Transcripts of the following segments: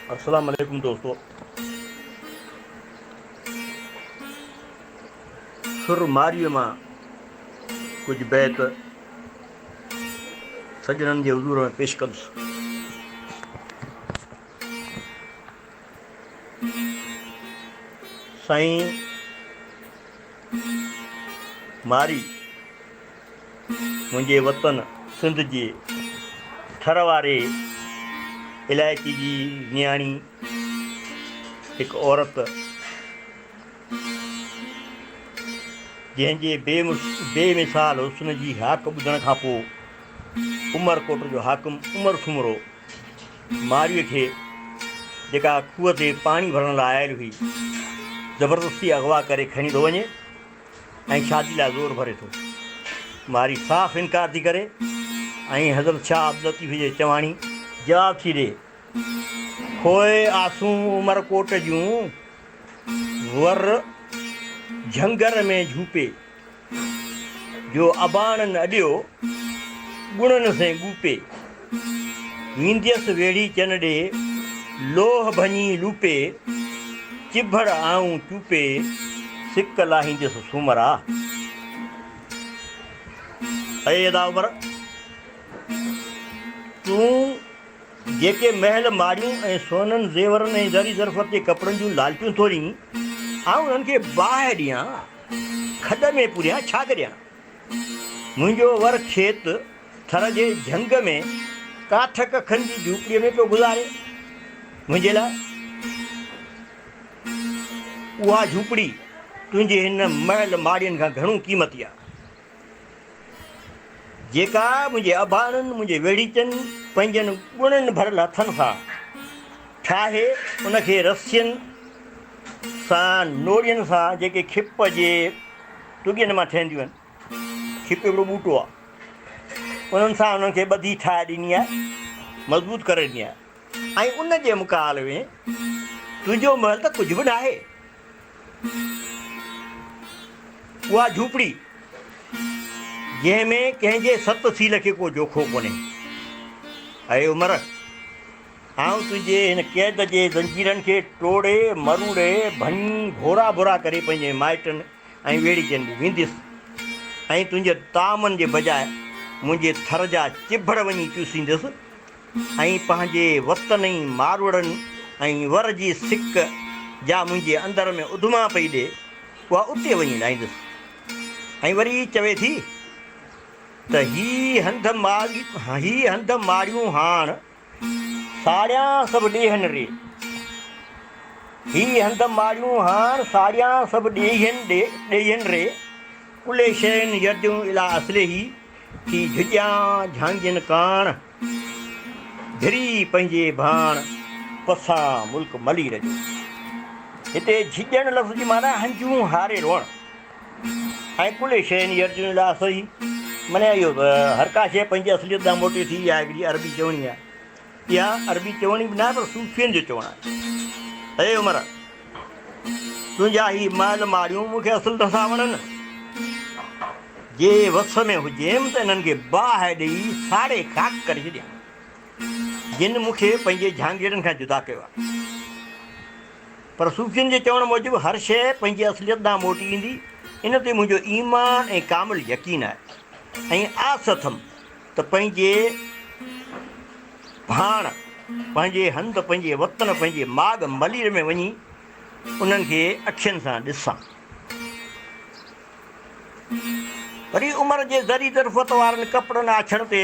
السلام عليڪم دوستو سر ماريء مان ڪجهه بيت سڄڻن جي حضور ۾ پيش ڪندس سائين ماري منهنجي وطن سنڌ جي ٿر واري علائقي جي نياڻي هڪ عورت جنهن جي بي مثال حسن جي هاڪ ٻڌڻ کان پوء عمرڪوٽ جو حاڪم عمر سومرو مارئي کي جيڪا کوهه تي پاڻي ڀرڻ لاء آيل هئي زبردستي اغوا ڪري کڻي ٿو وڃي ۽ شادي لاء زور ڀري ٿو. مارئي صاف انڪار ٿي ڪري ۽ حضرت شاهه عبداللطيف جي چواڻي. جواب ٿي ڏي. پوء آسون عمرڪوٽ جون ور جهنگر ۾ جهوپي، جو اباڻن اڏيو، ڳڻن سين ڳوپي. وينديس ويڙهي چن ڏي، لوهه ڀڃي لوپي، چڀڙ آئون چوپي، سڪ لاهينديس سومرا. اي ادا عمر! تون جيڪي محل ماڙيون ۽ سونن زيورن ۽ زري زرفت جي ڪپڙن جون لالچون ٿو ڏئين، آئون انهن کي باهه ڏيان، کڏ ۾ پوريان، ڇا ڪريان؟ منهنجو ور کيت، ٿر جي جهنگ ۾ ڪاٺ ڪکن جي جهوپڙيء ۾ پيو گذاري. منهنجي لاء اها جهوپڙي تنهنجي هن محل ماڙين کان گهڻو قيمتي آ، جيڪا منهنجي اباڻن، منهنجي ويڙهيچن، پنهنجن ڳڻن ڀريل هٿن سان ٺاهي ان کي رسين سان نوڙين سان جيڪي کپ جي ٽڳين مان ٺهنديون آهن، کيپ هڪڙو ٻوٽو آهي. انهن سان انهن کي ٻڌي ٺاهي ڏني آهي، مضبوط ڪري ڏني آهي ۽ ان جي مقابلي ۾ تنهنجو محل ته ڪجهه به ناهي. اها جهوپڙي جنهن ۾ ڪنهن جي ست سيل کي ڪو جوکو ڪونهي. اي عمر! آئون تنهنجي هن قيد جي زنجيرن کي ٽوڙي، مروڙي، ڀڃي، ڀورا ڀورا ڪري پنهنجي مائٽن، ۽ ويڙهجندي وينديس ۽ تنهنجي طعامن جي بجاء منهنجي ٿر جا چڀڙ وڃي چوسينديس ۽ پنهنجي وتنئي ماروئڙن ۽ ور جي سڪ جا منهنجي اندر ۾ اڌما پئي ڏي اها اتي وڃي لاهينديس ۽ وري چوي ٿي ته هي هنڌ ماڙيون هاڻ ساڙيان سڀ ڏيهن ڙي. هي هنڌ ماڙيون هاڻ ساڙيان سڀ ڏيهن ڏيهن ري. ڪلي شين يرديون اليٰ اصله ٿي جهڄيان جهانگين ڪاڻ ڌري پنهنجي ڀاڻ پسان ملڪ ملير جو. هتي جهڄڻ لفظ جي معنيٰ هنجون هاري روئڻ. ۽ ڪلي شين يرجون الى اصله، معني اهو ته هر ڪا شيء پنهنجي اصليت ڏانهن موٽي ٿي، اها هڪڙي عربي چوڻي آهي. اها عربي چوڻي به ناهي پر صوفين جو چوڻ آهي. اي عمر! تنهنجا هي مئل ماڙيون مون کي اصل نٿا وڻن. جي وس ۾ هجيم ته انهن کي باهه ڏيئي ساڙي خاڪ ڪري ڇڏيان، جن مون کي پنهنجي جهانگيرن کان جدا ڪيو آهي. پر صوفين جي چوڻ موجب هر شيء پنهنجي اصليت ڏانهن موٽي ايندي، ان تي منهنجو ايمان ۽ ڪامل يقين آهي ۽ آس اٿم ته پنهنجي ڀاڻ، پنهنجي هنڌ، پنهنجي وطن، پنهنجي ماڳ ملير ۾ وڃي انهن کي اکين سان ڏسان. وري عمر جي ذري ظرفت وارن ڪپڙن آڇڻ تي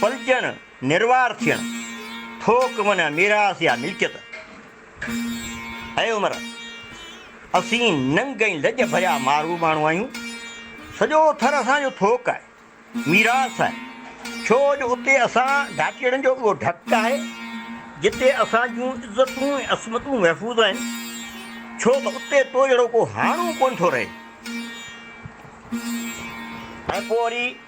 پلجڻ، نروار ٿيڻ، ٿوڪ معنيٰ ميراث يا ملڪيت. اي عمر! اسين ننگ ۽ لڄ ڀريا مارو ماڻهو آهيون. سڄو ٿر اسان جو ٿوڪ آهي، ميراث آهي، ڇو جو اتي اسان ڍاٽيئڙن جو اهو ڍڪ آهي، جتي اسان جون عزتون ۽ عصمتون محفوظ آهن، ڇو ته اتي تو جهڙو ڪو هاڻو ڪونه ٿو رهي. ۽ پوء وري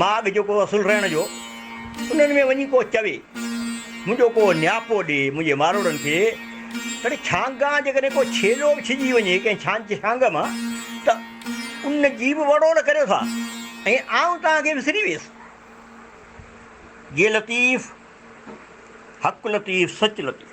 مان اڳ جيڪو اصل رهڻ جو انهن ۾ وڃي ڪو چوي منهنجو ڪو نياپو ڏي منهنجي ماروڙن کي تڏهن ڇانگان جيڪڏهن ڪو ڇيلو به ڇڄي وڃي ڪنهن ڇانچ ڇانگ مان ته ان جي به وڙوڙ ڪريو ٿا ۽ آئون توهان کي وسري ويس جي لطيف حق لطيف سچ لطيف.